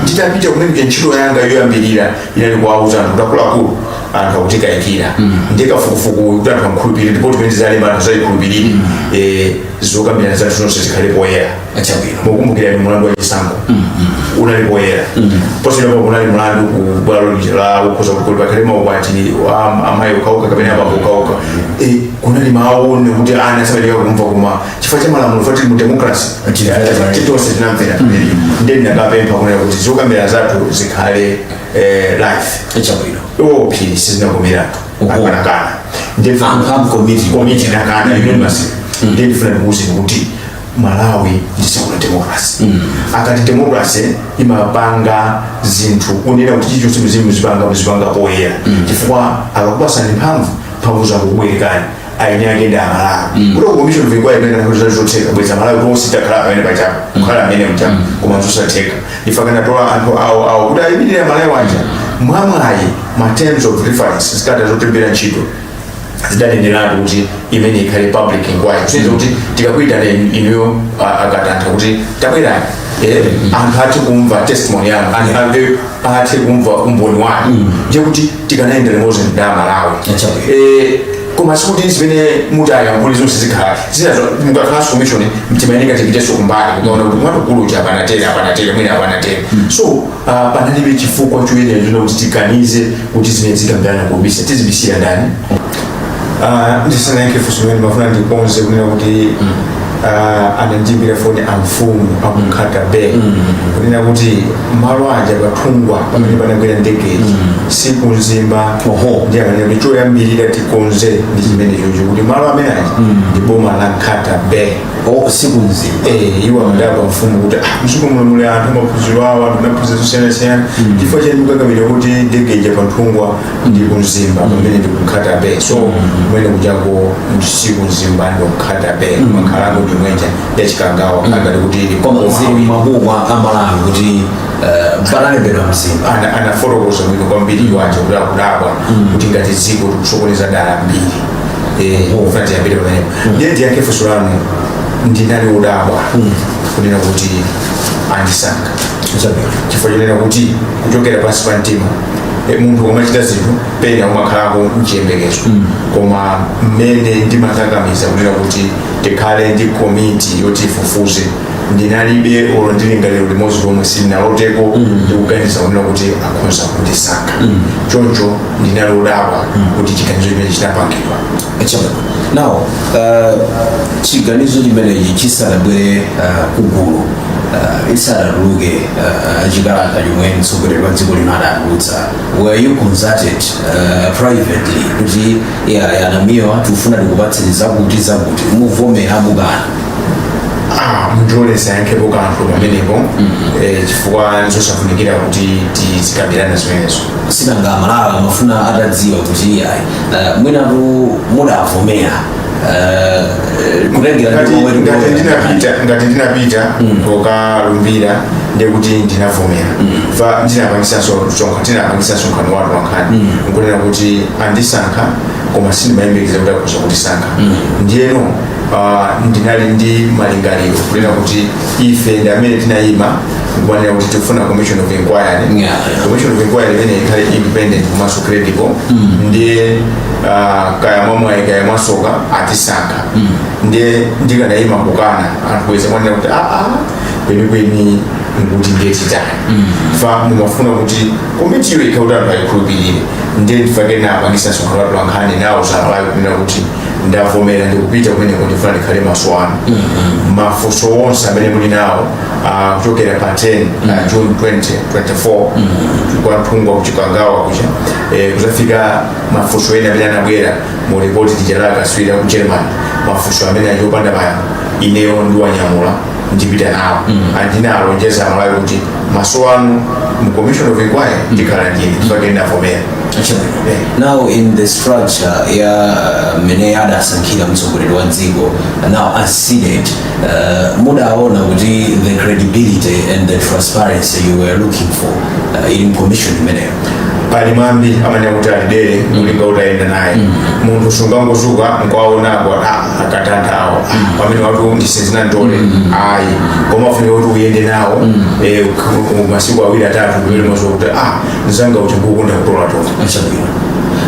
nditapita kumene ntchito yanga yoyambirira inali kuwauza anthu kuti akuluakulu anthu akutikayikira ndi kafukufuku kuti anthu amkhulupirire lipoti imene tizalemba anthu azayikhulupirire eh, zokambirana zathu zonse zikhale poyera Achabwino. mukukumbukira mulandu wa chisankho unali poyera posachedwapa kunali mulandu ku bwalo lija la okhudza kuti pakhale maukwati amayi okhaokha kapena abambo okhaokha Eh, kunali mawu onena kuti ana sabalika kumva koma chifukwa cha malamulo poti tili mu democracy tonse tinamvera mmene ndiye ndinakapempha kunena kuti zokambirana zathu zikhale eh, live chabwino iwo phiri sizinakomerana Uhu. akanakana Amphamvu committee. komiti inakana unanimous ndiye ndifuna ndikuuze kuti malawi ndi dziko la democracy akati democracy imapanga zinthu kunena kuti chilichonse muzipanga muzipanga poyera chifukwa akakupasani mphamvu mphamvu zongokubwerekani eni ake ndi amalawi kuti commission of inquiry imene anakuza zotheka bwenzi amalawi tonse titakhala pamene pajapo kukhala amene mchapo koma zosatheka ife akanatola anthu awo awo kuti ayimirire amalawi aja mwamwayi ma terms of reference zikalata zotilembera ntchito zidaneneratu kuti imeneyi ikhale public inquiry kusonyeza kuti tikakuitana inuyo a- akatantha kuti tabwerani eh, anthu athe kumva testimony yanu anthu athe kumva umboni wanu ndiye kuti tikanayenda limodzi ndi amalawi Chabwino. Eh, koma sikuti zimene mutayankhule zonse zikhala zinazo mukakhalanso commission timayeneka tipitenso kumbali kumaona kuti wamkulu uja apa anatere apa anatere mwina apa anatere so ah, panalibe chifukwa choyenera kuti tiganize kuti zimene tikambirana kubisa tizibisira ndani Ah, ndisanayankhe funso limeneli ndimafuna ndikonze kunena kuti ah, anandiimbira foni amfumu aku nkhata bay kunena kuti malo aja pa nthungwa pamene panagwera ndege ija si ku mzimba Oho. ndiye akunena kuti choyambirira tikonze ndi chimenecho kuti malo amene aja ndi boma la nkhata bay o si ku mzimba Eh, iwo amadabwa amfumu kuti "Ah, mdziko muno muli anthu amaphunziro awo anthu anaphunzira zosiyanasiyana chifukwa chani kukakamira kuti ndege ija pa nthungwa ndi ku mzimba pamene ndi ku nkhata bay so kumene kujako si ku mzimba ndi ku nkhata bay nkhalango yomwe ija ya chikangawa akati kuti ili koma zili mmabuku a malawi kuti eh, panalembedwa mzimba ana- anafotokoza bwino kwambiri iwowo kuti akudabwa kuti ngati dziko tikusokoneza dala mbiri ndifuna tiyambire pamenepo ndiye ndiyankhe funso lanu ndinali odabwa kunena kuti andisankha chabwino chifukwa chonena kuti kuchokera pansi pa mtima E, munthu umachita zinthu pena umakhalako mchiyembekezo koma mmene ndimakakamiza kunena kuti tikhale ndi komiti yoti ifufuze ndinalibe olo ndi lingaliro limodzi lomwe sindinaloteko ndikuganiza kunena kuti akhonza kundisankha choncho ndinali odabwa kuti chiganizo chimenechi chinapangidwa Chama. Now, uh, chiganizo chimenechi chisanabwere uh, kugulu uh, isanatuluke uh, chikalata chomwe mtsogoleri wa dziko lino adatulutsa were you consulted uh, privately kuti iyayi a Namiwa tikufuna tikupatseni zakuti zakuti muvomera mukana Ah, mundilole ndisayankhepo kanthu pamenepo Eh, chifukwa nzosafunikira kuti tizikambirana zimenezo sinanga amalawi amafuna atadziwa kuti ayi uh, mwinatu mudavomera Eh, ngati ndinapita kokalumbira ndekuti ndinavomera fa ndinapangisanso msonkhano ndinapangisanso msonkhano wa atolankhani nkunena kuti andisankha koma sindimayembekeza kuti akhoza kutisankha ndiyeno ah, ndinali ndi malingaliro kunena kuti ife ndi amene tinayima kumanena kuti tikufuna commission of inquiry Yeah. commission of inquiry imene ikhale independent komanso credible ndiye ah, kaya mwamwayi kaya mwasoka atisankha ndiye ndikanayima nkukana anthu bweza mwanena kuti aa kwenikweni nkuti ndiye titani fa mumafuna kuti komitiyo ikhale kuti anthu ayikhulupirire ndiye ndifake napangisa msonkhano wa atolankhani nawauza amalawi kunena kuti ndavomera ndikupita kumeneko ndifuna ndikhale maso anu mafunso onse amene muli nawo ah, kuchokera pa 10 mm. uh, june 2024 mm. kwa Nthungwa ku Chikangawa kuja eh, kuzafika mafunso ena amene anabwera mu ripoti lija la akatswiri a ku german mafunso amene ali opanda mayankho ineyo ndiwanyamula ndipita nawo and ndinawalonjeza amalawi kuti maso anu mu commission of inquiry ndikhala ndine ndifake ndinavomera Eh. now in the structure ya mmene adasankhira mtsogoleri wa dziko now as seated uh, mudaona kuti the credibility and the transparency you were looking for uh, in commission imeneyo pali mwambi amanena kuti ali dere nkulinga mm. utayenda naye mm. munthu sungangozuka nkwaonako ah, akatandawo mm. amenewatu ndi sizinamtole ayi koma ufunika kuti uyende nawo eh, masiku awiri atatu ndiye umaziwa kuti ah, nzangayutu ngokonda kutola tola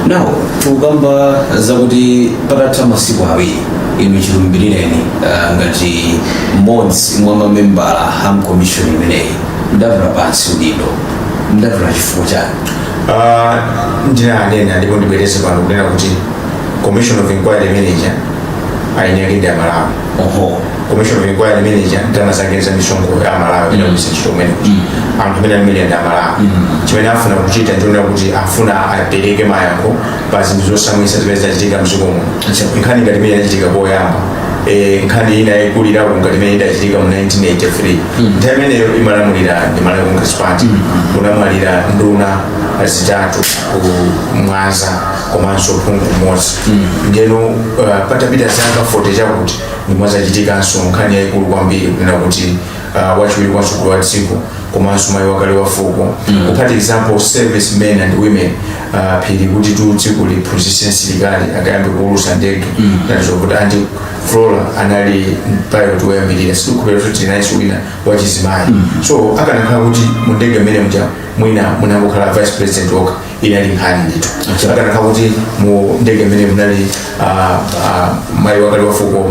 now tikukamba zakuti patatha masiku awiri inu chilumbirireni ah, ngati mmodzi mwa mamembala a mkomishoni imeneyi mudatula pansi udindo mudatula chifukwa chani Ah, ndinanena ndipo ndibwereze pano kunena kuti commission of inquiry imene ija eni ake ndi amalawi oho commission of inquiry imene ija ndalama zake za misonkho ya amalawi ina kuisa ntchito kumene anthu amene amene ndi amalawi chimene afuna kuchita ndiona kuti afuna apereke mayankho pa zinthu zosamwisa zimene zinachitika mdziko muno nkhani ngati imene inachitika poyamba eh, nkhani ina yayikulirako ngati imene idachitika mu 1983 nthawi imeneyo imalamulira ndi malawi congress party kunamwalira nduna zitatu ku mwanza komanso phungu mmodzi ndeno uh, patapita zaka 40 chakuti ndiye mwazachitikanso nkhani yayikulu kwambiri kunena kuti uh, wachiwiri kwa mtsogoleri wa dziko komanso mayi wakale wa fuko kuphatikizapo service men and women ah, phiri kuti tu dziko liphunzitse msilikali akayambe kuulusa ndege ngati zokuti anti flora anali pilot woyambirira sindikukhulupirira kuti tinayenso wina wachizimayi so akanakhala kuti mu ndege mmene muja mwina munangokhala vice president okha inali nkhani ndithu akanakhala kuti mu ndege mmene munali ah, ah, mayi wakale wa fuko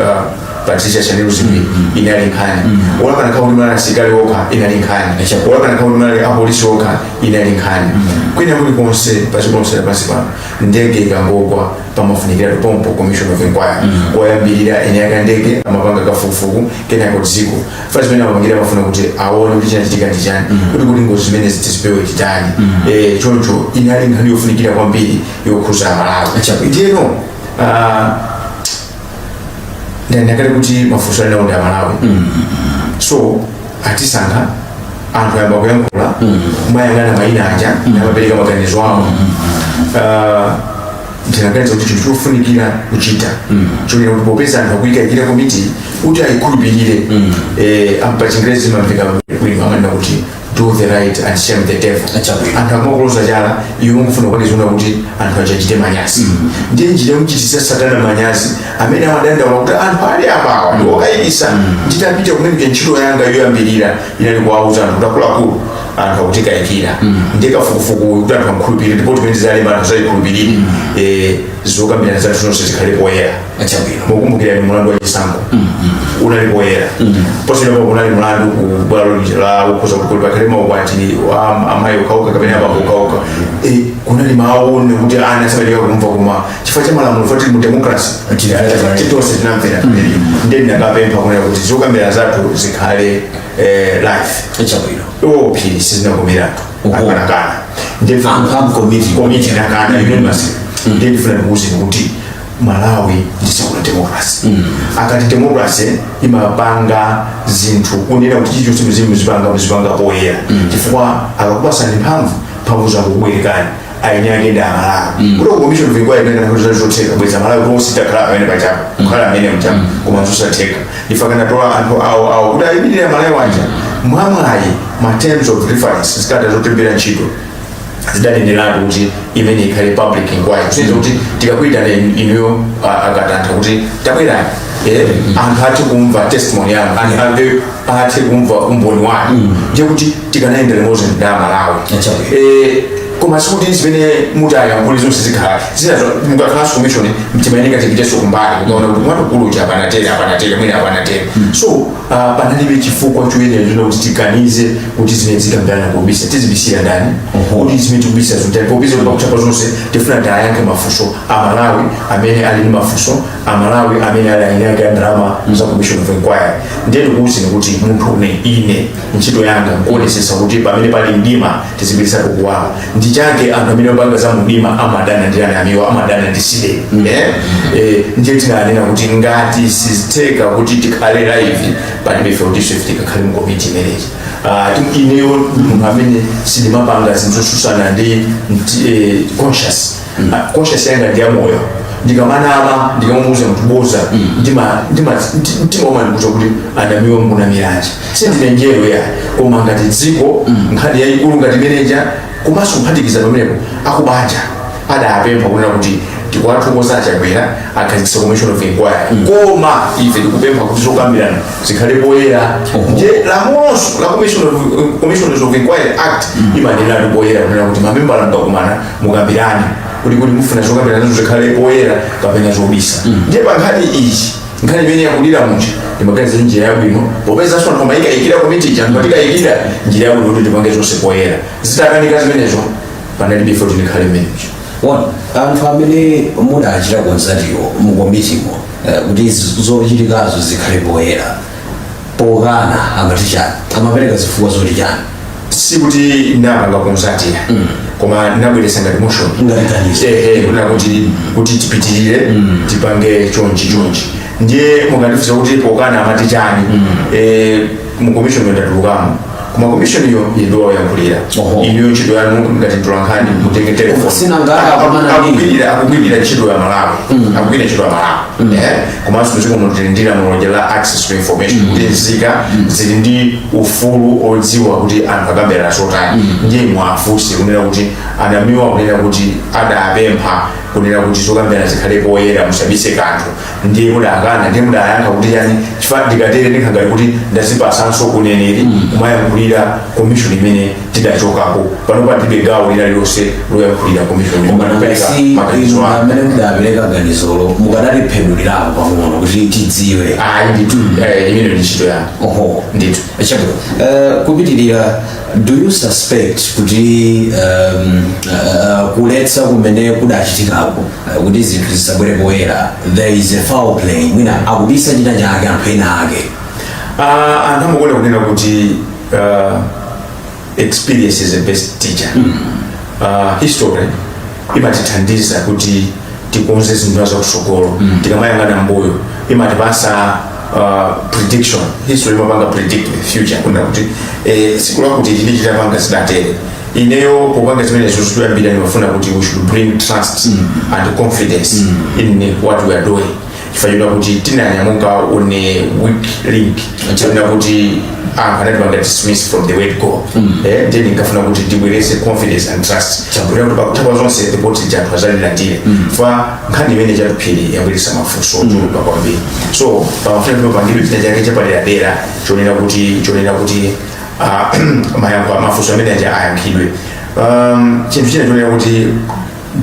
ah, patricia shanil dzimbiri inali nkhani olo akanakhala kuti munali asilikali okha inali nkhani olo akanakhala kuti munali apolisi okha inali nkhani kwina kulikonse pa dziko lonse lapansi pano ndege ikangogwa pamafunikira pompo commission of inquiry koyambirira eni ake a ndege amapanga kafukufuku kenako dziko fati zimene amapangira amafuna kuti aone kuti chinachitika ndi chani kuti kuti ngozi zimenezi tizipewe titani Eh, choncho inali nkhani yofunikira kwambiri yokhuza amalawi Chabwino. ndiyeno ah, ndinaona kale kuti mafunso ali nawo ndi amalawi so atisankha anthu ayamba kuyankhula amayang'ana mayina aja namapereka maganizo awo Ah, ndinaganiza kuti chinthu chofunikira kuchita chonena kuti popeza anthu akuyikayikira komiti kuti ayikhulupirire Eh, pa chingerezi zimamveka bwino amanena kuti do the right and shame the devil Achabe. anthu amakuloza chala iwe mukufuna kukachita zoona kuti anthu akachite manyazi ndiye njira yomuchitisa satana manyazi amene amadandaula kuti anthu ali apawa ndi okayikisa nditapita kumene ntchito yanga yoyambirira inali kuwauza anthu kuti akuluakulu anthu akutikayikira ndiye kafukufuku kuti anthu amkhulupirire ndipo zimene talemba anthu azazikhulupirire zokambirana zathu zonse zikhale poyera mukumbukira ni mulandu wa chisankho mm-hmm. unali poyera mm-hmm. posachedwapa unali mulandu ku bwalo la ukhoza kukulu pa nkhani ya maukwati a amayi okhaokha kapena abambo okhaokha mm-hmm. eh, kunali mawu ena akuti ana asabalika kumva kuma chifukwa cha malamulo foti mu democracy tonse tinamvera ndiye ndinakapempha kunena kuti zokambirana zathu zikhale eh, live chabwino iwo phiri sizinakomeratu anakana ndiye committee inakana unanimous ndiye ndifuna ndikuuze kuti malawi ndi dziko la democracy akati democracy imapanga zinthu kunena kuti chilichonse mzimu muzipanga muzipanga poyera chifukwa akakupasani mphamvu mphamvu zokubwerekani eni ake ndi amalawi kuti commission of inquiry imene kuti zinali zotheka bweza amalawi tonse titakhala amene pachapa kukhala amene mchapa koma zosatheka ndiye anakatola anthu awo awo kuti ayimirire amalawi aja mwamwayi ma terms of reference zikalata zotilembera ntchito zidaneneratu kuti imene ikhale public inquiry kusonyeza kuti tikakuitana in- inuyo a- akuti anthu kuti tabwerani eh, anthu athe kumva testimony yanu anthu athe- athe kumva umboni wanu ndiye kuti tikanayenda limodzi ndi amalawi Acha. Eh, koma sikuti zimene mutayankhule zonse zikhala zinazo mukakhalanso commission mumayeneka mupiteso kumbali mukaona kuti mwamkulu uja apa natele apa natele mwina apa nateleso Ah, panalibe chifukwa choyenera kuti tiganize kuti zimene tikambirana pobisa tizibisira ndani kuti zimene tikubisa nzotani popeza kuti pakuthapa zonse tifuna kuti tiyankhe mafunso a malawi amene ali ndi mafunso a malawi amene ali ayini ake a ndalama za commission of inquiry ndiye ndikuwuzeni kuti munthune ine ntchito yanga nkuonesesa kuti pamene pali mdima tizibweresako kuwala nchake anthu amene opanga za mumdima amadana ndi a Namiwa amadana ndi CDEDI eh? eh, ndiye tinanena kuti ngati sizitheka kuti tikhale live palibe chifukwa choti ife tikakhale mu komiti imeneyi Ah, tu- ineyo ndi munthu amene sindimapanga zinthu zosusana ndi ndi, eh, conscious conscious yanga ndi yamoyo ndikamanama ndikamamuuza munthu boza ndima- ndima- ndi- mtima umandiuza kuti a Namiwa mukunamiranji sindine mngelo ayi koma ngati dziko nkhani yayikulu ngati imene ija komanso kuphatikiza pamenepo akubanja adapempha kunena kuti tikwathokoza a Chakwera akhazikisa commission of inquiry koma ife tikupempha kuti zokambirana zikhale poyera nde lamuloso la commission of- commissioners of inquiry act imanena poyera kunena kuti mamembala mukakumana mukambirane kuti kuti mufuna zokambiranazo zikhale poyera kapena mobisa ndiye pa nkhani iyi nkhani imene yakulira muja ndimaganiza kuti njira yabwino popeza anthu akuyikayikira komiti ija akutikayikira njira yabwino kuti tipange zonse poyera zitakanika zimenezo panalibe zoti ndikhale mmenemo Eh, anthu amene mudachita kutsatirawo mukomitimo eh, kuti zochitikazo zikhale poyera pokana amati chani amapereka zifukwa zoti chani sikuti ndinapanga kutsatira koma ndinabweresa ngati motion Ngati ganizo. ehe kunena kuti kuti tipitirire tipange chonchi chonchi ndiye mukandifusa kuti pokana amati chani eh, mu commission ndatulukamo koma komishoniyo ili ndi woyankhulira Oho. inuyo ntchito yanu ngati mtolankhani mutenge telefoni Sinanga akumana ndi- Akugwirira- akugwirira ntchito ya malawi akugwirira ntchito ya malawi Eh, komanso mdziko muno tili ndi lamulo la access to information kuti nzika zili ndi ufulu odziwa kuti anthu akambirana zotani ndiye mwafunse kunena kuti a Namiwa kunena kuti adapempha kunena kuti zokambirana zikhale poyera musabise kanthu ndiye mudakana ndiye mudayankha kuti chani chifukwa ndikatere ndikhala ngati kuti ndazipasanso uneneri kumayankhulira komishoni imene ndidachokako pano ndilibe gawo lina lilonse loyankhulira komishoni koma ndipereka maganizo anga amene mudapereka ganizolo mukadaliphwanyirapo pang'ono kuti tidziwe ayi ndithu eh, imene ndi ntchito yanu oho ndithu chabwino Eh, kupitirira do you suspect kuti um, uh, kuletsa kumene kudachitikako uh, kuti zinthu zisabwere poyera there is a foul play mwina akubisa china chake anthu ena ake Ah, anthu amakonda kunena kuti ah, experience is the best teacher Ah, history imatithandiza kuti tikonze zinthu za kusogolo tikamayang'ana mbuyo imatipasa uh, prediction history imapanga predict the future kunena kuti eh, siku lakuti ili ndi chitapanga zidatere ineyo kupanga zimene zinthu zoyambira ndimafuna kuti we should bring trust and confidence in what we are doing chifukwa chonena kuti tinanyamuka on a weak link chifukwa chonena kuti anthu anatipanga dismiss from the word go eh, then ndinkafuna kuti tibwerese confidence and trust kuti kuti pakutha pa zonse ripoti lija anthu azalilandire chifukwa nkhani imene chatuphiri yabweresa mafunso ochuluka kwambiri so pamafuna kuti papangidwe china chake chapaderadera chonena kuti chonena kuti ah, mayankho a mafunso amene aja ayankhidwe um, chinthu china chonena kuti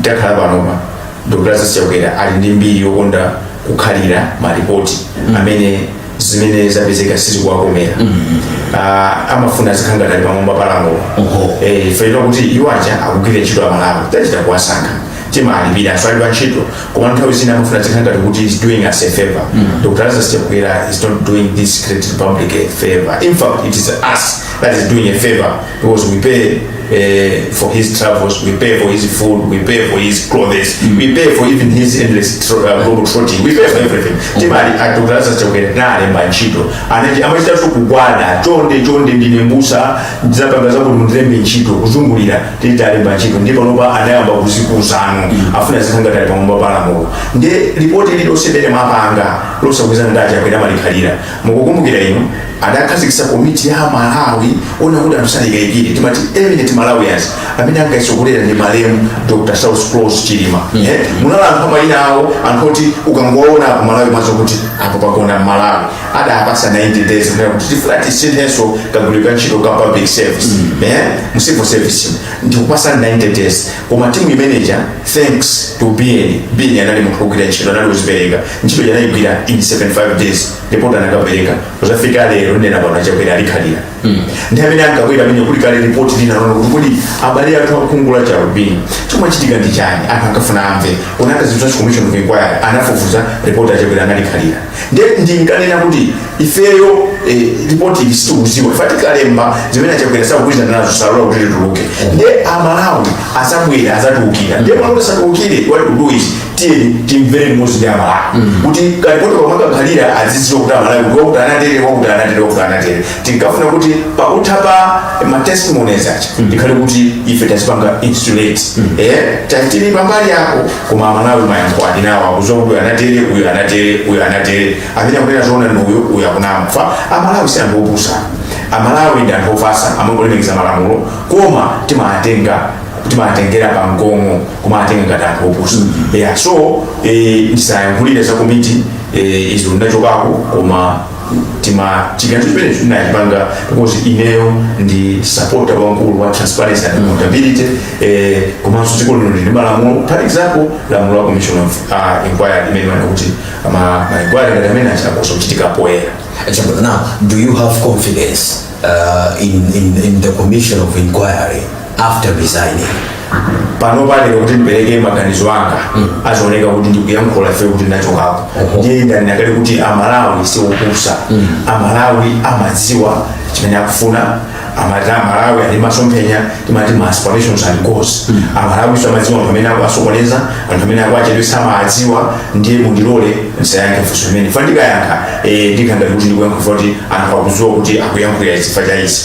takhala panopa dr chakwera ali ndi mbiri yokonda kukhalira malipoti amene zimene zapezeka sizikuwakomera Ah, amafuna azikhala ngati ali pamwamba pa lamulo Oho. Eh, chifukwa chonena kuti iwo aja akugwira ntchito ya amalawi tachita kuwasankha timalipira aswali pa ntchito koma nthawi zina amafuna azikhala ngati kuti is doing us a favor dr chakwera is not doing this great republic a favor in fact it is us that is doing a favor because we pay uh, for his travels, we pay for his food, we pay for his clothes, we pay for even his endless tro- uh, global trotting, we pay for everything. Timali dr chakwera tinalemba ntchito. Anaji amachita tu kugwada, chonde chonde ndine mbusa, zapanga zakuti mundilembe ntchito, kuzungulira, titawalemba ntchito. Ndiye panopa anayamba kuzikuzano, afuna azikhala ngati ali pamwamba pa lamulo. Nde ripoti lililonse limene amapanga, losagwirizana ndi achakwera amalikhalira. mukukumbukira inu adakhazikitsa komiti ya amalawi onena kuti anthu sangawakayikire timati eminent malawians amene ankaitsogolera ndi malemu dr saulos klaus chilima Eh, munali anthu amayina awo anthu oti ukangowaona ku malawi mwazo kuti apo pagona mmalawi adawapasa 90 days kunena kuti tifuna tisinthenso kagwiridwe ka ntchito ka public service Eh, mu civil service ndikupasa 90 days koma timu imeneja thanks to biyeni biyeni anali munthu ogwira ntchito anali ozipereka ntchito ija anayigwira in 75 days report anakapereka kuzafika lero ndikunena pano achakwera alikhalira ndi amene ankabwera amene kuli kale report lina lonena kuti kodi abale athu akhungu lachialubino chomachitika ndi chani anthu ankafuna amve kunakhazikitsidwa commission of inquiry anafufuza report achakwera analikhalira nde ndinkanena kuti ifeyo eh, ripoti ili sitikuziwa fa tikalemba zimene achakwera sakugwirizana nazo salola kuti lituluke nde amalawi azabwera azatiukira nde malawi asatiukire what we do is tiyeni timvere limodzi ndi amalawi kuti ka lipoti pamakakhala aziziwa kuti amalawi kuti wakuti anatere wakuti anatere wakuti anatere tinkafuna kuti pakutha pa matestimonies aja tikhale kuti ife tazipanga insulate eh tatili pambali yako koma amalawi mayankho ali nawo akuziwa kuti uyu anatere uyu anatere uyu anatere amene akunena zoona ndi uyu uyu akunama fa amalawi si anthu opusa amalawi ndi anthu ofasa amangolemekeza malamulo koma timatenga timatengera pa mgong'o kumatenga ngati anthu opusa yeah so eh, ndisayankhulire za komiti eh, izo ndinachokako koma koma chiganizo chimene tinachipanga because ineyo ndi sapota wamkulu wa transparency and accountability eh, komanso dziko lino lili ndi malamulo for example lamulo la commission of uh, inquiry limene limanena kuti ma ma inquiry ngati amene aja akhoza kuchitika poyera Now, now, do you have confidence uh, in, in, in the commission of inquiry? after resigning pano pa lero kuti ndipereke maganizo anga azioneka kuti ndikuyankhula ifa kuti ndachokapo ndiye ndanena kale kuti amalawi siwopusa amalawi amadziwa chimene akufuna amati amalawi ali masomphenya timati ma aspirations and goals amalawi so amadziwa anthu amene akuwasokoneza anthu amene akuwachedwesa amadziwa ndiye mundilole ndisayankhe funso limene fa ndikayankha eh, ndikhala ngati kuti ndikuyankha kuti anthu akudziwa kuti akuyankhulira chifukwa cha izi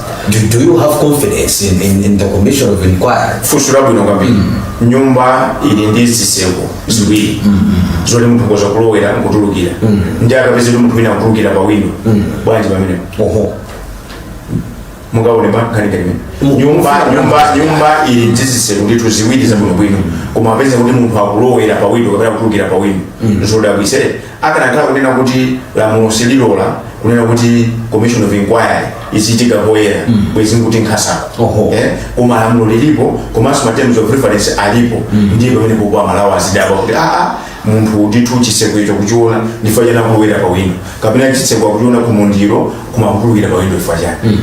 do, do you have confidence in, in, in the commission of inquiry funso labwino kwambiri nyumba ili ndi zitseko ziwiri zoti munthu akhoza kulowera nkutulukira nde akapeza kuti munthu wina akutulukira pa windo bwanji pamenepo oho mungaone pakhala nkhani kene nyumba nyumba nyumba ili ndi zitseko ndithu ziwiri zabwinobwino koma apeza kuti munthu akulowera pa windo kapena kutulukira pa windo zodabwitsa akanakhala kunena kuti lamulo sililola kunena kuti commission of inquiry izichitika poyera mm. bwezi nkuti nkhani satero eh? koma lamulo lilipo komanso terms of reference alipo mm. ndiye pamenepo amalawi azidabwa kuti aa ah, ah, munthu ndithu chiseko icho akuchiona ndifa chani akulowera pa windo kapena chiseko akuchiona kumwendo koma kutulukira pa windo ifa chani mm.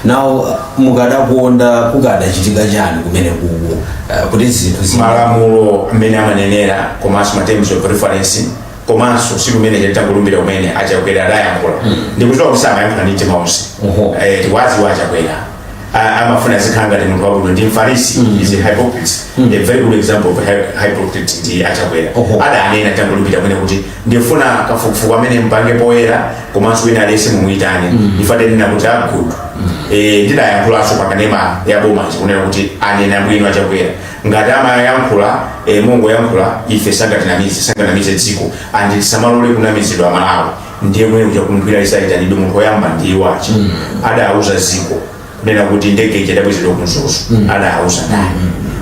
now mukadakonda kukadachitika chani kumene kuku eh, kuti zinthu zi- malamulo mmene amanenera komanso ma terms of reference komanso siku limene chabe titangolumbira kumene achakwera adayankhula ndikuziwa kuti samayankhula ndi mtima onse Oho. Eh, tikuwaziwa achakwera A- amafuna azikhala ngati munthu wabwino ndi mfarisi is a hypocrite a very good example of hy- hypocrite ndi achakwera Oho. adanena titangolumbira kumene kuti ndifuna kafukufuku amene mpange poyera komanso wina aliyense mumuyitane ife tinanena kuti good Eh, ndidayankhulanso pakanema ya boma ndikunena kuti anena bwino achakwera ngati amayankhula eh, mongoyankhula ife sangatinamize sanganamize dziko and tisamalole kunamizidwa amalawi ndiye kumene kuja ku inquiry azayitanidwe munthu oyamba ndiye wachi adauza dziko nena kuti ndege ija idabwezedwa ku mzuzu adauza naye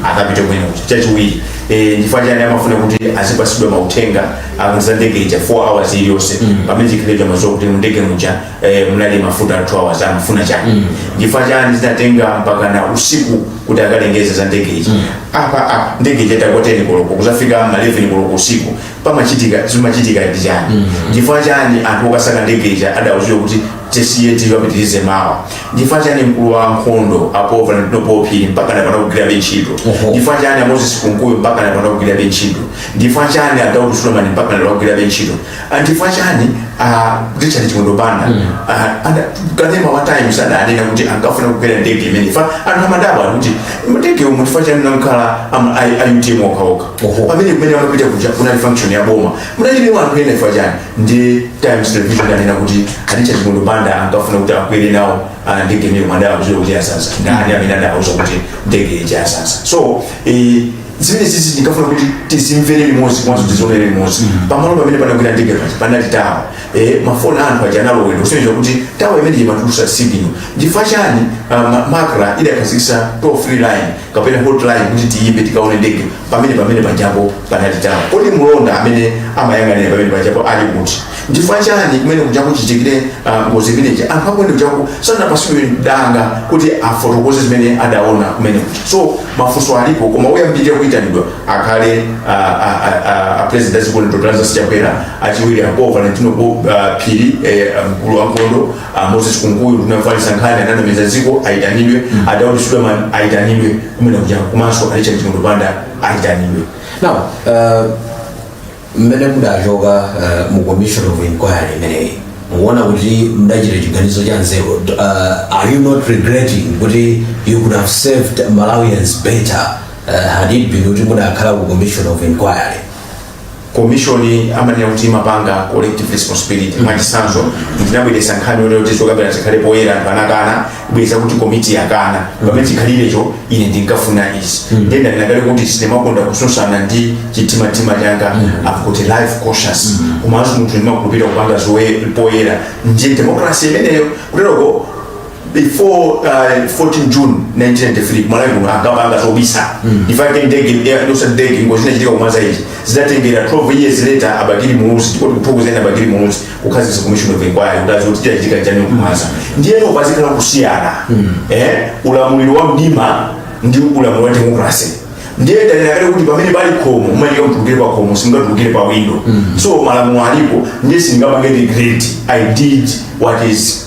akapite kumene kuti chachiwiri eh, chifukwa chani amafuna kuti azipasidwa mauthenga okhuza ndege ija 4 hours iliyonse pamene chikhalirecho amaziwa kuti mundege muja eh, munali mafuta a 2 hours amafuna chani chifukwa chani zinatenga mpaka na usiku kuti akalengeze za ndege ija apa apa ndege ija itagwa 10 koloko kuzafika ma 11 koloko usiku pamachitika zimachitika ndi chani chifukwa chani anthu okasaka ndege ija adauzidwa kuti tisiye tikapitirize mawa chifukwa chani mkulu wa nkhondo a paul valentino phiri mpakana pano akugwirabe ntchito Oho. chifukwa chani amoses kunkuyu mpakana pano akugwirabe ntchito chifukwa chani adaudu sulemani mpakana pano akugwirabe ntchito Ah, chifukwa chani ah, richard chimwendo banda pa kanema wa times adanena kuti ankafuna kukwera ndege imeneyi chifukwa anthu amadabwa kuti ndege umu chifukwa chani munakhala a utm okhaokha Oho, pamene kumene amapita kuja kunali function ya boma kunalibe anthu ena chifukwa chani ndi times television anena kuti a richard chimwendo banda ankafuna kuti akwere nawo ah, ndege imeneyi koma adauzidwa kuti yazaza ndani amene adawuza kuti ndege ija yazaza so eh, zimenezizi ndinkafuna kuti tizimvere limodzi komanso tizionere limodzi pamalo pamene panagwera ndege paja panali tower eh, mafoni a anthu aja analowedwa kusonyeza kuti tower imeneyi imatulusa signal n'chifukwa chani ah, ma- macra idakhazikisa toll free line kapena hotline kuti tiyimbe tikaone ndege pamene pamene pajapo panali tower kodi mlonda amene amayang'anira pamene pajapo ali kuti chifukwa chani kumene kuja kuchitikire ah, ngozi imeneyi anthu akumene kuja sanapasidwe danga kuti afotokoze zimene adaona kumene kuja so mafunso alipo koma oyambirira kuyitanidwa akhale ah, ah, ah, ah, a president a dziko lino dr lazarus chakwera achiwiri a paul valentino Bo- ah, phiri eh, mkulu wa nkhondo Ah, moses kunkuyu nduna yofalisa nkhani ananamiza dziko ayitanidwe mm. adaudi suleman ayitanidwe kumene kuja komanso a richard chimwendo banda ayitanidwe now uh, mmene mudachoka uh, mu commission of inquiry imeneyi mukuona kuti mudachita chiganizo cha nzeru uh, are you not regretting kuti you could have served malawians better uh, had it been kuti mudakhala ku commission of inquiry commission amanena kuti imapanga collective responsibility mwachitsanzo ndinabweretsa nkhani yonena kuti zokambirana zikhale poyera anthu anakana bweza kuti komiti yakana pamene chikhalirecho ine ndinkafuna izi ndiye ndanena kale kuti sindimakonda kutsutsana ndi chikumbumtima changa i've got a live conscience komanso munthu ndimakhulupirira kupanga zoye poyera ndiye democracy imeneyo kuteroko before uh, 14 june 1993 kumalawi kuno ankapanga zobisa ifake ndege eh, ndosati ndege ngozi inachitika ku mwanza ichi zidatengera 12 years later a bakili muluzi ndipo tikuthokozeni a bakili muluzi kukhazikitsa commission of inquiry kuti adziwe kuti chachitika chani ku mwanza ndiyeno pazikhala kusiyana eh, ulamuliro wa mdima ndi ulamuliro wa demokrasi ndiye ndanena kale kuti pamene pali khomo umafunika utulukire pa khomo sungatulukire pa window so malamulo alipo ndiye singapange regret i did what is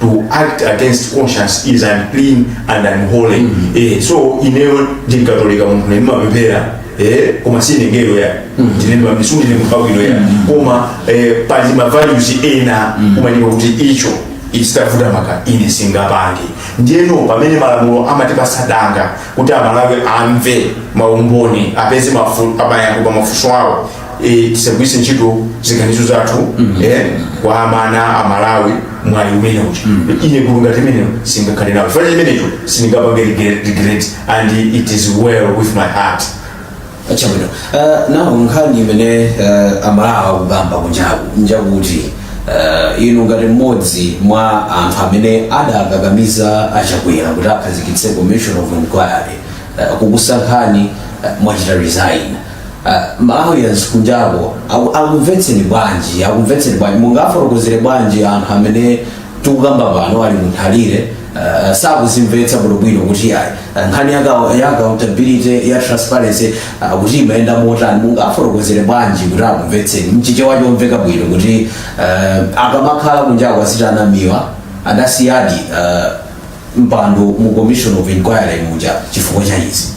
to act against conscience is unclean and unholy mm -hmm. eh, so ineyo ndi mkatolika munthune ndimapemphera eh, koma sine mngelo ya ndine ndimamisungi ne munthu wabwino ya koma eh, pali ma values ena umadziwa kuti icho zitavuta maka ine singapange ndiyeno pamene malamulo amatipasa danga kuti amalawi amve maumboni apeze mafu- amayankho pa mafunso awo e, tisagwiritse ntchito ziganizo zathu mm-hmm. e, kuwamana amalawi mwayi umenewo mm. ine gulu ngati imeneyo singakhale nawo chifukwa chimenecho sindingapange regret and it is well with my heart chabwino uh, now nkhani imene uh, amalawi akukamba kunjaku njakuti uh, inu ngati mmodzi mwa anthu amene adakakamiza a chakwera kuti akhazikitse commission of inquiry uh, kukusankhani uh, mwachita resign Uh, malawians kunjako aku- akumvetseni bwanji akumvetseni bwanji mungafotokozere bwanji anthu amene tikukamba pano ali mu nthalire uh, sakuzimvetsa bwinobwino kuti ayi uh, nkhani ya account- ya accountability ya transparency uh, kuti imayenda motani mungafotokozere bwanji kuti akumvetseni mchichewa chomveka bwino kuti uh, akamakhala kunjako aziti a namiwa adasiyadi uh, mpando mu commission of inquiry muja chifukwa cha izi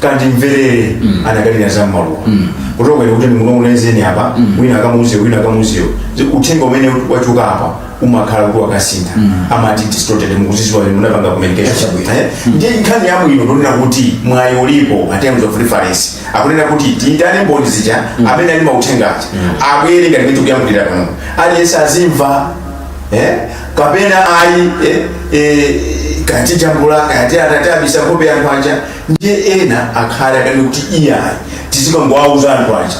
kandimverere anakanena za mmaluwa kutokera kuti ndikunong'onezeni apa wina akamuuze uyo wina akamuuze uyo uthenga umene wachoka apa umakhala kuti wakasintha amati distorted mukuzidziwa inu munapanga communication Chabwino. Eh? ndiye nkhani yabwino ndonena kuti mwayi ulipo pa terms of reference akunena kuti tiyitane mboni zija amene ali mauthenga aja abwere ngati mmene tikuyankhulira pano aliyense azimva eh? kapena ayi eh? eh, kati jambula kati atati abisa nkhope ya nkhwanja ndiye ena akhale akati kuti iyayi tizikangowauza anthu aja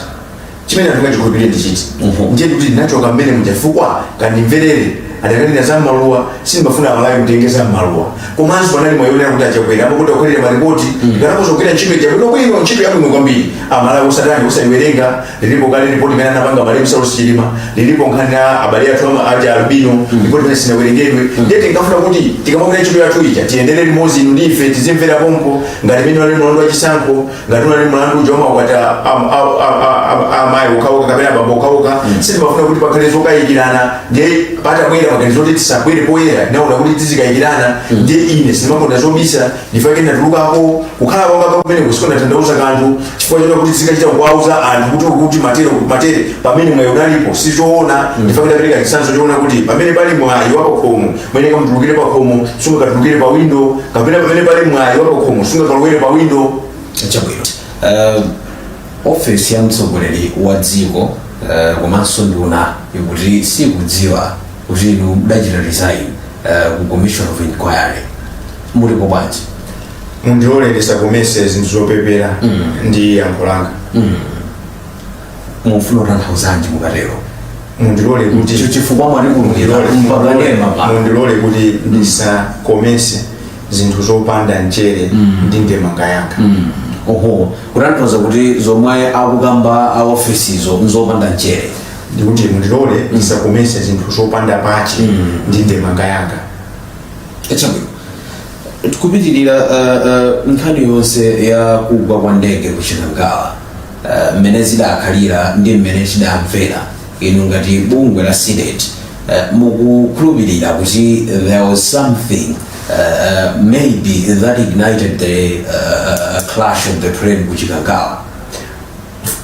chimene anthu akachikhulupirire ndi chiti ndiye kuti ndinachoka mmene muja chifukwa kandimverere adakanena za mmaluwa sindimafuna amalawi kuti atenge za mmaluwa komanso panali mwayi wonena kuti achakwera amakuti akukhalira maripoti ndikanakhoza kugwira ntchito ija bwino ntchito yabwino kwambiri amalawi osatani osayiwerenga lilipo kale lipoti limene anapanga malemu saulos chilima lilipo nkhani ya abale athu ama- aja albino lipoti limene sinawerengedwe ndiye tinkafuna kuti tikamagwira ntchito yathu ija tiyendere limodzi inu ndi ife tizimvera pompo ngati mmene unali mlandu wa chisankho ngati unali mlandu uja umakwata amayi okhaokha kapena abambo okhaokha sitimafuna kuti pakhale zokayikirana ndiye patabwera maganizo oti tisabwere poyera naona kuti tizikayikirana ndiye ine sindimakonda zobisa ndifake ndatulukako kukhala kwanga kumeneko sikumatanthauza kanthu chifukwa chonena kuti tizikachita kuwauza anthu kuti ukuti matere matere pamene mwayi unalipo si zoona ndifake ndapereka chitsanzo chonena kuti pamene pali mwayi wa pakhomo muyenera mutulukire pakhomo sungakatulukire pa windo kapena pamene pali mwayi wa pakhomo sungakalowere pa windo chabwino uh, ofesi ya mtsogoleri wa dziko uh, komanso nduna ikuti sikudziwa kuti inu mudachita resign uh, ku commission of inquiry mutipo bwanji mundilole ndisakomese zinthu zopepera ndi yankho langa mufuna kutanthauzanji mukatero mundilole kuti ndicho chifukwa mwatikulungirira mpakanema pa mundilole kuti ndisakomese zinthu zopanda mchere ndi ndemanga yanga oho kutanthauza kuti zomwe akukamba a ofisizo nzopanda mchere ndikuti mundilole ndisakomese zinthu zopanda pache ndi ndemanga yanga chabwino tikupitirira uh, uh, nkhani yonse ya kugwa kwa ndege ku chikangawa uh, mmene zidakhalira ndi mmene tidamvera inu ngati bungwe la cdedi uh, mukukhulupirira kuti there was something uh, uh, maybe that ignited the uh, uh, crash of the plane ku chikangawa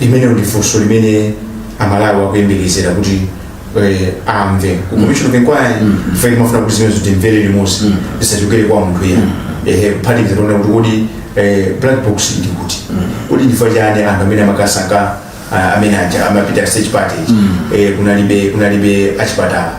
limenelo ndi funso limene amalawi akuyembekezera kuti eh, amve ku commission of inquiry ife timafuna kuti zimenezo timvere limodzi zisachokere kwa munthu wina ehe kuphatikiza zonena kuti kodi eh, black box ili kuti kodi ndifa chani anthu amene amakasaka ah, amene aja amapita search party eh, kunalibe kunalibe achipatala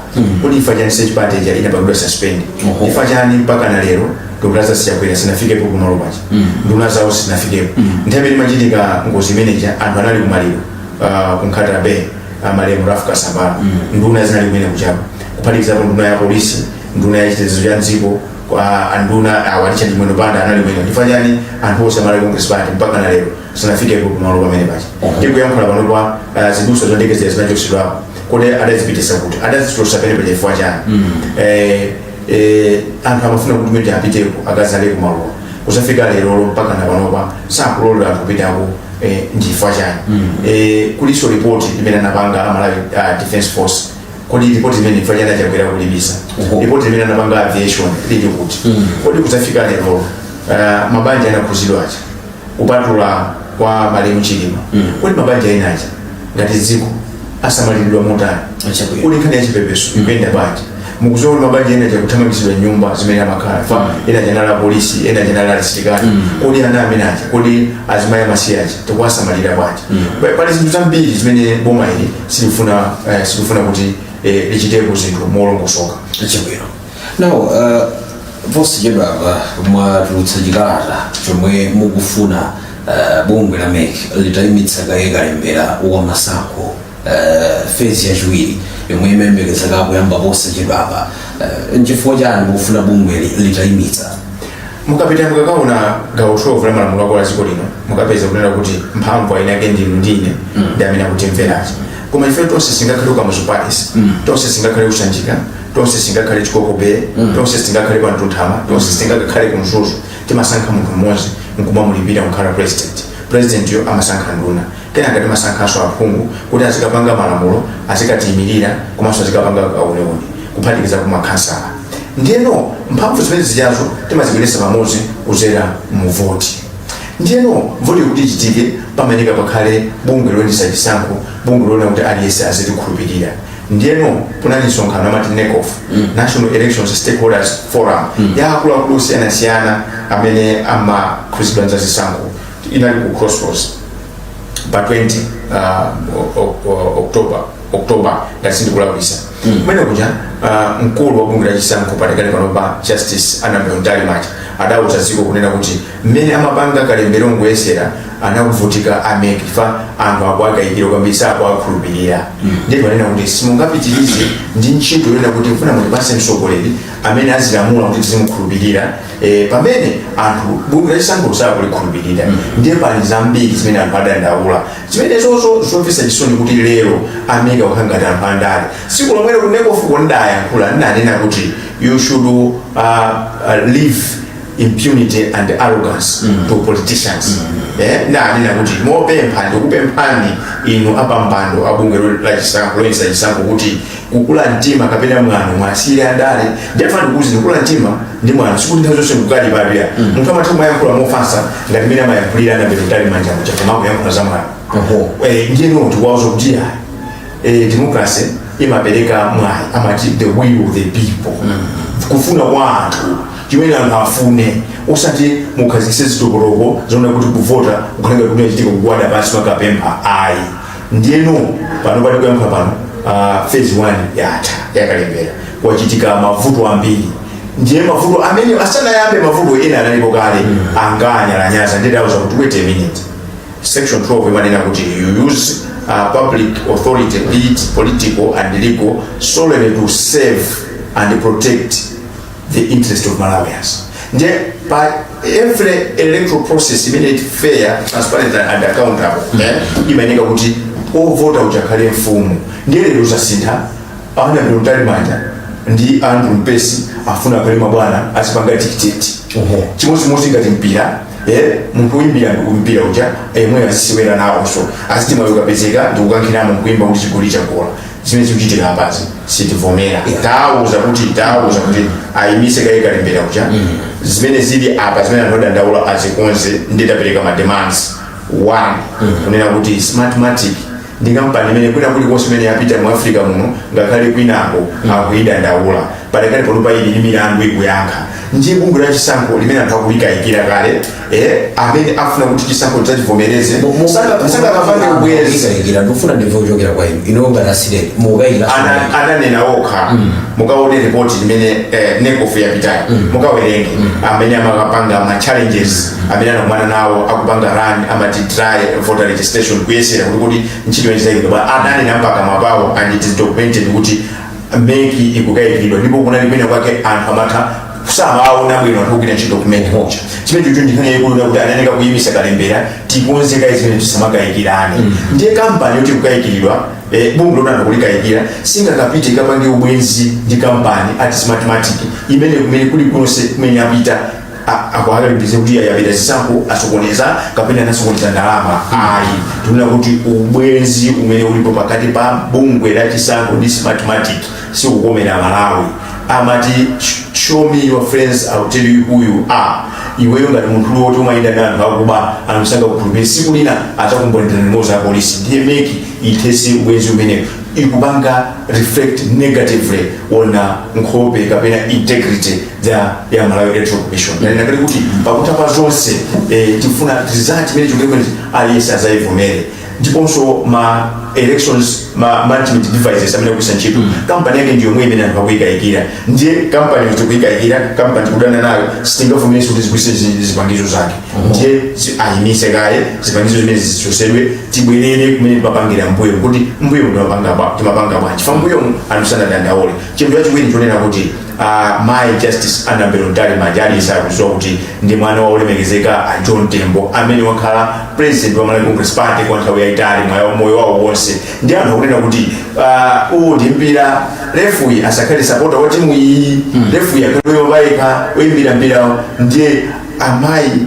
kodi ndifa chani search party ija inapangidwa suspend ndifa chani mpaka na lero dr lazarus chakwera sanafikepo kumalo paja nduna zawo sizinafikepo nthawi imene imachitika ngozi imeneja anthu anali kumaliro ah, ku nkhata bay amalemu ralph kasambara nduna zinali kumene kuja kuphatikizapo nduna ya polisi nduna ya chitetezo cha mdziko kwa anduna a richard chimwendo banda anali kumene chifukwa chani anthu onse a malawi congress party mpaka na lero sanafikepo kumalo pamene paja tikuyankhula pano kwa ah, zidutswa za ndege zija zinachosedwapo kodi adazipitisa kuti adazichotsa pamene paja chifukwa chani Eh, eh, anthu amafuna kuti mete apiteko akazaleko maluwa kuzafika lerolo mpaka napanopa sakulola anthu kupitako eh, ndifa chani eh, kulinso ripoti limene anapanga amalawi uh, defense force kodi ripoti limene ndifa chani a Chakwera akulibisa Uhu. ripoti limene anapanga aviation lili kuti kodi kuzafika lerolo uh, mabanja anakhuzidwa aja kupatula kwa malemu chilima kodi mabanja ena aja ngati dziko asamaliridwa motani Achakwera. kodi nkhani ya chipepeso ikuyenda bwanji mukuziwa kuti mabanja ena aja akuthamangitsidwa nyumba zimene amakhala fa ena aja anali apolisi ena aja anali asilikali kodi ana amene aja kodi azimayi amasiye aja tikuwasamalira bwanji Pa- pali zinthu zambiri zimene boma ili silifuna eh, silifuna kuti eh, lichitepo zinthu molongosoka Achakwera. now uh, posachedwa apa mwatulutsa chikalata chomwe mukufuna uh, bungwe la MEC litayimitsa kaye kalembera wa masankho uh, phase yachiwiri yomwe imayembekezeka kuyamba posachedwa apa uh, nchifukwa chani mukufuna bungwe li- litayimitsa mukapita mukakaona gawo 12 la malamulo akulu a dziko lino mukapeza kunena kuti mphamvu eni ake ndinu ndine ndi amene akutimvera chifukwa ife tonse singakhale ku Kamuzu Palace tonse singakhale ku Sanjika tonse singakhale Chikoko Bay tonse singakhale pa Mtunthama tonse singakakhale ku Mzuzu timasankha munthu mmodzi nkumamulipira kukhala president president yo amasankha nduna kenaka timasankhanso aphungu kuti azikapanga malamulo azikatiyimirira komanso azikapanga kauniuni kuphatikiza kumakhansala ndiyeno mphamvu zimene zijazo timazibweretsa pamodzi kuzera muvoti ndiyeno voti kuti ichitike pamayenera pakhale bungwe loyendetsa chisankho bungwe loona kuti aliyense azitikhulupirira ndiyeno kunali msonkhano amati NECOF mm. national elections stakeholders forum mm. ya akuluakulu osiyanasiyana amene amakhudzidwa ndi zisankho inali ku crossroads pa 20 uh, o- o- o- october october ngati sindikulakwisa kumene kuja uh, mkulu wa bungwe la chisankho padakali panopa justice Annabel Mtalimanja adauza dziko kunena kuti mmene amapanga kalembera woyesera anali kuvutika a MEC chifukwa anthu akuwakayikira kwambiri sakuwakhulupirira ndipo anena kuti simungapitirize ndi ntchito yona kuti mfuna mutipase mtsogoleri amene azilamula kuti tizimukhulupirira eh, pamene anthu bungwe la chisankho sakulikhulupirira ndiye pali zambiri zimene anthu adandaula zimenezozo zomvetsa chisoni kuti lero a MEC akukhala ngati anthu andale tsiku lomwelo ku NECOF ko ndidayankhula ndidanena kuti you should uh, uh, leave impunity and arrogance mm. to politicians mm. eh, ndanena kuti mopempha ndikupemphani inu apampando abungwe lachisankho loyendetsa chisankho kuti kukula mtima kapena mwano muwasiyire andale ndiafa ndikuuzi ndikula mtima ndi mwano sikuti nthawi zonse nkukalipira mm. munthu amatha kumayankhula mofatsa ngati mmene amayankhulira annabel mtalimanja muja koma kuyankhula za mwano eh, ndiyeno tikuwauza kuti ya eh, democracy imapereka mwayi amati the will of the people mm. kufuna kwa anthu chimene anthu afune osati mukhazikitse zitokoloko zona kuti kuvota kukhala ngati achitika kugwada pansi kumakapempha ayi ndiyeno pano pali kuyankha pano uh, phase 1 yatha yakalembera kwachitika mavuto ambiri ndiye mavuto amene asanayambe mavuto ena analipo kale anangonyalanyaza ndiye tawauza kuti wait a minute section 12 imanena kuti you use uh, public authority be it political and legal solely to serve and protect the interest of malawians ndiye pa every electoral process imene ili fair transparent and accountable eh, imayeneka kuti ovota uja akhale mfumu ndiye lero zasintha annabel mtalimanja ndi andrew mpesi afuna akhale mabwana azipanga dictate Oho. chimodzimodzi ngati mpira eh, munthu woyimbira mpira uja yemwe azisewera nawonso aziti mwayi ukapezeka ndikukankhiramo nkuimba kuti chigoli chagola zimene zikuchitika apazi sitivomera tawuza kuti tawuza kuti ayimise kaye kalembera uja zimene zili apa zimene anthu adandaula azikonze ndiye tapereka ma demands one kunena kuti smartmatic ndi kampani imene kwina kulikonse imene yapita mu africa muno ngakhale kwinako akuyidandaula padakali panopa ili ndi milandu ikuyankha ndiye bungwe la chisankho limene anthu akulikayikira kale eh, amene afuna kuti chisankho tidzachivomereze Saka- sangakapange ubwenzi mukukayikira ndikufuna ndimve kuchokera kwa inuyo ngati a cdedi mukukayikira Ana- ananena okha mukaone ripoti limene eh, necof yapitayo mukawerenge amene amakapanga ma challenges amene anakumana nawo akupanga run amati try voter registration kuyesera kuti kuti ntchito yachitika bwa ananena pakamwa pawo and it is documented kuti mec ikukayikiridwa ndipo kunali kwina kwake anthu amatha samaona bwino anthu ogwira ntchito kumene kuja chimenechocho ndi nkhani yaikulu nakuti anayeneka kuyimisa kalembera tikonze kaye zimene tisamakayikirane ndiye kampani yoti ikukayikiridwa eh, bungwe loti anthu akulikayikira silingakapite kapange ubwenzi ndi kampani ngati smartmatic imene kumene kulikonse kumene apita a- akuwakalipira kuti ayi apita zisankho asokoneza kapena anasokoneza ndalama ayi tikunena kuti ubwenzi umene ulipo pakati pa bungwe la chisankho ndi smartmatic sikukomera malawi amati "Sh- show me your friends I'll tell you who you are iweyo ngati munthu woti umayenda ndi anthu akuba anthu sangakukhulupirire siku lina adzakumbonera limodzi a polisi ndiye meki ithese ubwenzi umenewo ikupanga reflect negatively on nkhope kapena integrity ya ya malawi electoral commission nanena kale kuti pakutha pa zonse eh, tifuna result imene chikuti aliyense azayivomere ndiponso ma elections management devices amene akugwiritsa ntchito kampani yake ndi yomwe imene anthu akuyikayikira ndiye kampani yoti tikuyikayikira kampani tikudana nayo sitingavomerenso kuti tigwiritse zi- zipangizo zake ndiye zi- ayimitse kaye zipangizo zimene zichosedwe tibwerere kumene timapangira mbuyo kuti mbuyo timapanga bwa- timapanga bwanji fa mbuyomu anthu sanadandaule chinthu chachiwiri chonena kuti Uh, mai justice annabel mtalimanja aliyense akuziwa kuti ndi mwana wa olemekezeka a john tembo amene wakhala president wa malawi congress party kwa nthawi yayitali mwa moyo wawo wonse ndi anthu akunena kuti uh, uwu ndi mpira referee asakhale sapota wa timu iyi mm. referee akhale yobayika oyimbira mpirawo ndiye amayi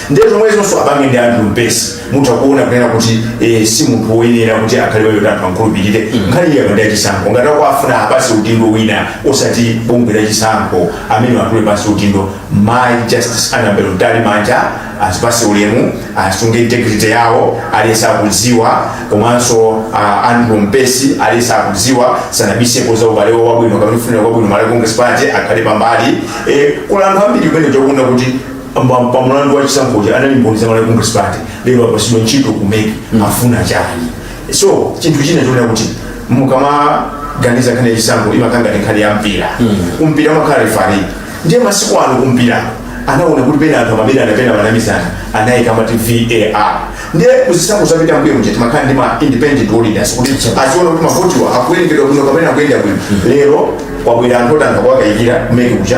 ndiye zomwezonso apange ndi andrew mpesi mutha kuona kunena kuti eh, si munthu woyenera kuti akhale woti anthu ankhulupirire nkhani yake ndi ya chisankho ngati akuwafuna awapase udindo wina osati bungwe la chisankho amene atule pasi udindo mai justice anabel mtalimanja azipase ulemu asunge integrity yawo aliyense akudziwa komanso uh, andrew mpesi aliyense akudziwa sanabisepo za ubale wawo wabwino kapena kufunira kwabwino malawi congress party akhale pambali eh, kuli anthu ambiri kumene tikuona kuti pa mulandu wa chisankhochi anali mboni za malawi congress party lero apasidwa ntchito kumeki afuna chani so chinthu china chonena kuti mukamaganiza nkhani ya chisankho imakhala ngati nkhani ya mpira kumpira amakhala refari ndiye masiku ano kumpira anaona kuti pena anthu amabera ena pena amanamizana anayika amati var ndiye kuzisankho zapita mbuyomu timakhala ndi ma independent auditors kuti aziona kuti mavotiwa akuwerengedwa bwino kapena akuyenda bwino lero kwabwera anthu oti anthu akuwakayikira kumeki kucha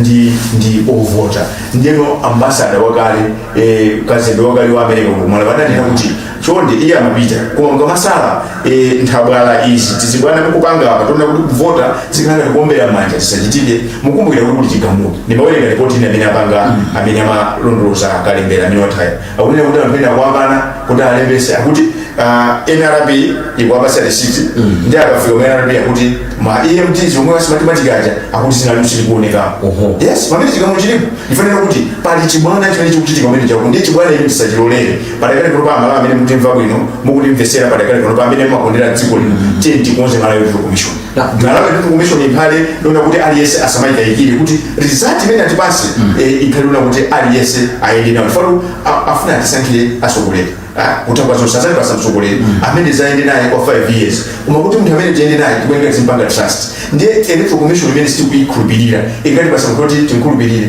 ndi ndi ovota ndiyeno ambasada wakale eh, kazembe wakale wa america ku malawi adanena kuti chonde iye amapita koma mukamasala eh, nthabwala izi ndi zibwana mukupanga apa zonena kuti kuvota zikhala ngati kuombera manja zisachitike mukumbukira kuti kuli chigamulo ndimawerenga ripoti ine amene apanga amene amalondoloza kalembera amene wataya akunena kuti anthu ena akuwakana kuti alembese akuti ah, nrb ikuwapasa risiti ndi akafika mu nrb akuti ma emds omwe a smartmatic aja akuti dzina lawo silikuoneka yes pamene chigamulo chilipo ndifanira kuti pali chibwana chimene chikuchitika pamene chako ndi chibwana ichi tisachilolere padakali panopa amalawi amene mukutimva bwino mukutimvesera padakali panopa amene mumakondera dziko lino tiyeni tikonze malawi electoral commission ndalama ndi kumishoni iphale lona kuti aliyense asamayikayikire kuti result imene atipase eh, iphale lona kuti aliyense ayende nawo falo a- afuna atisankhire atsogoleri Ah, kutangwa zonse azali basa mtsogoleri amene zayende naye kwa 5 years koma kuti munthu amene tiyende naye tikuyenera timpanga trust ndiye electoral commission imene sitikuyikhulupirira ingati basa kuti timkhulupirire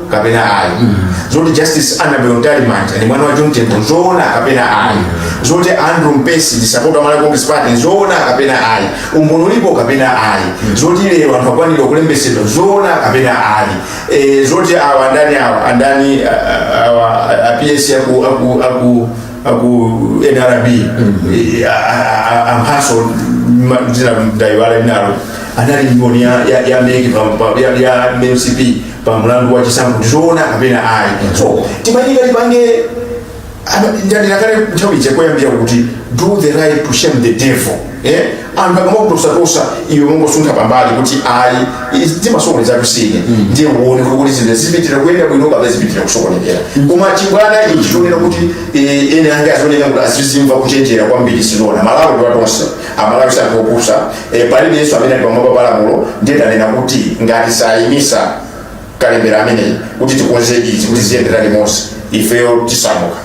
kapena ayi zoti justice annabel ntalimanja ndi mwana wa john tembo nzoona kapena ayi zoti andrew mpesi ndi sapota wa malawi congress party nzoona kapena ayi umboni ulipo kapena ayi zoti lero anthu akwanira kulembesedwa nzoona kapena ayi Eh, zoti awa andani awa andani ah, ah, awa a ps aku aku aku aku nrb eh, a- a- a- amphaso ma- dzina mdaiwala linalo anali mboni ya ya ya meki pa- pa- ya ya mcp pa mlandu wa chisankho ndizoona kapena ayi so timayenika tipange ndandilakale nthawi ija koyambira kuti do the right to shame the devil eh? anthu akamakutosakosa iwe mongosuntha pambali kuti ayi izi timasokole zathu sine ndiye uone kuti zinthu zipitira kuyenda bwino kapena zipitira kusokonekera koma chibwana ichi chionera kuti eh, ene ange azioneka kuti azizimva kuchenjera kwambiri sinona malawi ndiwatonse amalawi sangopusa e, palibe yense amene ali pamwamba pa lamulo ndiye tanena kuti ngati sayimisa kalembera ameneyi kuti tikonze izi kuti ziyendera limodzi ifeyo tisamuka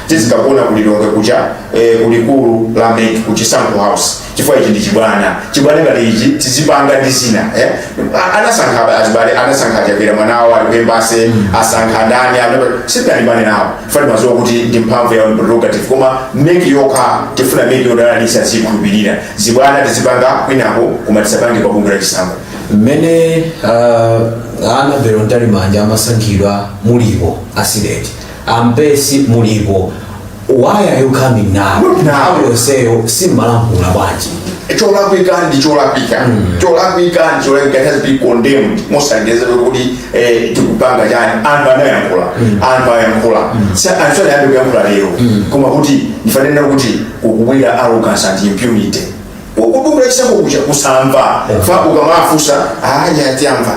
tizikakuona kulilonge kuja eh, kulikulu la meki ku chisankho house chifukwa ichi ndi chibwana chibwana ngati ichi tizipanga ndi zina eh? A- anasankha azibale anasankha chapera mwana awo ali ku embase asankha ndani anapa- sitanibane nawo fe maziwa kuti ndi mphamvu ya prerogative koma meki yokha tifuna meki yodalalisa tizikhulupirira zibwana tizipanga kwinako koma tisapange pa bungwe la chisankho mmene uh, ana berontali manja amasankhidwa mulipo asideti ampesi mulipo why are you coming now Not now. Nthawi yonseyo simmalankhula bwanji cholakwika ndi cholakwika cholakwika ndi cholakwika it has been condemned mosandezewe kuti eh, tikupanga chani anthu anayankhula anthu ayankhula Sa- anthu sanayambe kuyankhula lero koma kuti ndifanena kuti kukubwera arrogance and impunity ukudumula chisankho kuja kusamva fa ukamafusa aya atiyamva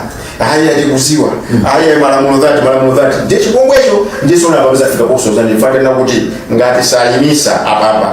aya tikuziwa aya malamulo dhati malamulo dhati ndiye chipongwecho ndiye sona apapeza fika pokusozani ndifanena kuti ngati sayimisa apapa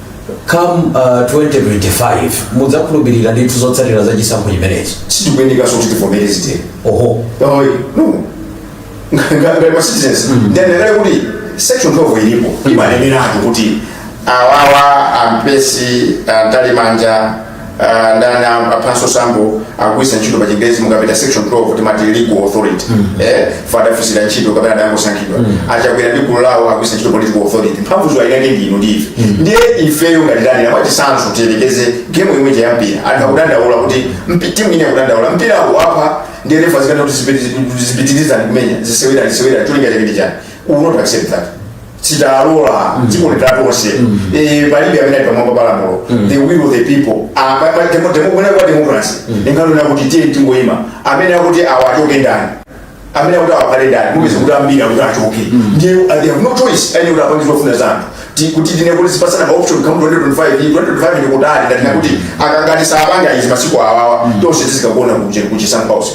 come uh, 2025 mudzakhulupirira ndithu zotsatira za chisankho chimenechi sitikuyenekaso so kuti tivomere zitero oho Oi, no. ngati ma citizens ndendekale kuti section 12 ilipo imaneneratu kuti awawa ampesi antalimanja Ah, ndani am- aphanso sambo akugwiritsa ntchito pa chingerezi mukapita section 12 timati legal authority eh fa adafunsira ntchito kapena adangosankhidwa achakwera ndi gulu lawo akugwiritsa ntchito political authority mphamvu zawo eni ake ndinu ndi ife ndiye ifeyo ngati ndani apa chitsanzo tiyelekeze game imwe ya mpira anthu akudandaula kuti mpi- timu ina akudandaula mpira wapha ndiye refa azikati kuti zipitirizani kumenya zisewera zisewera cholinga chake ndi chani we will not accept that sitidzalola dziko ndi lathu tonse Eh, palibe amene ali pamwamba pa lamulo the will of the people Ah, pa- pa- demo- demo- kunena kwa democracy inkanena kuti tiye tingoyima amene akuti awa achoke ndani amene akuti awa akhale ndani mupeza kuti ambiri akuti achoke ndiye uh, they have no choice ayenera kuti apange zofuna za anthu Ti- kuti tinene kuti tizipasana maoption kamu 2025 iyi 2025 ndi kutali ndati nakuti akangoti saapanga izi masiku awawa tonse tizikagona ku Chisankho House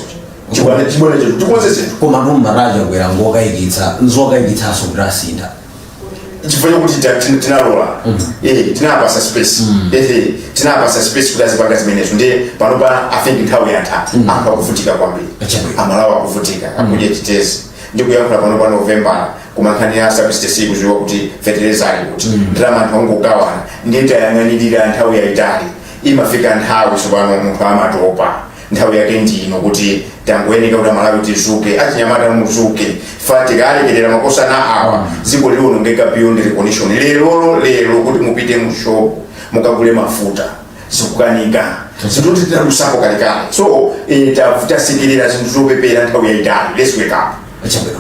chibwana chibwana chetu tikonze zinthu koma boma la achakwera nzokayikitsa nzokayikitsanso kuti asintha chifukwa chokuti tina- tina- tinalola Eh, tinapasa space ehe tinapasa space kuti azipanga zimenezo ndiye panopa i think nthawi yatha anthu akuvutika kwambiri Chabwino. amalawi akuvutika akudya chitedze ndikuyankhula panopa novembala koma nkhani ya subsidy kuziwa kuti fetereza ali kuti ndalama anthu angogawana ndiye tayang'anirira nthawi yayitali imafika nthawi tsopano munthu amatopa nthawi yake ndino kuti tangoyeneka kuti amalawi tizuke achinyamata muzuke fa tikalekerera makosana awa dziko liwonongeka beyond recognition lerolo lero kuti mupite mu shop mukagule mafuta zikukanika zinthu tinadusapo kalekale so eh, ta- tasekerera zinthu zopepera nthawi yayitali let's wake up chabwino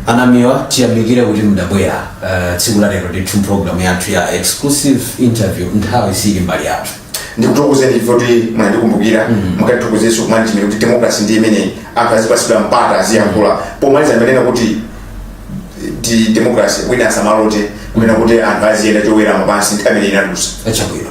anamiwa tiyamikire kuti mudabwera eh, tsiku la lero ndithu mpulogalamu yathu ya exclusive interview nthawi siili mbali yathu ndikuthokozeni chifukwa choti munandikumbukira mukatithokozeso ku management kuti demokrasi ndi imeneyi anthu azipasidwa mpata aziyankhula pomaliza ndimanena kuti ndi demokrasi wina asamalote kunena kuti anthu aziyenda chowerama pansi nthawi imeneyo inadusa chabwino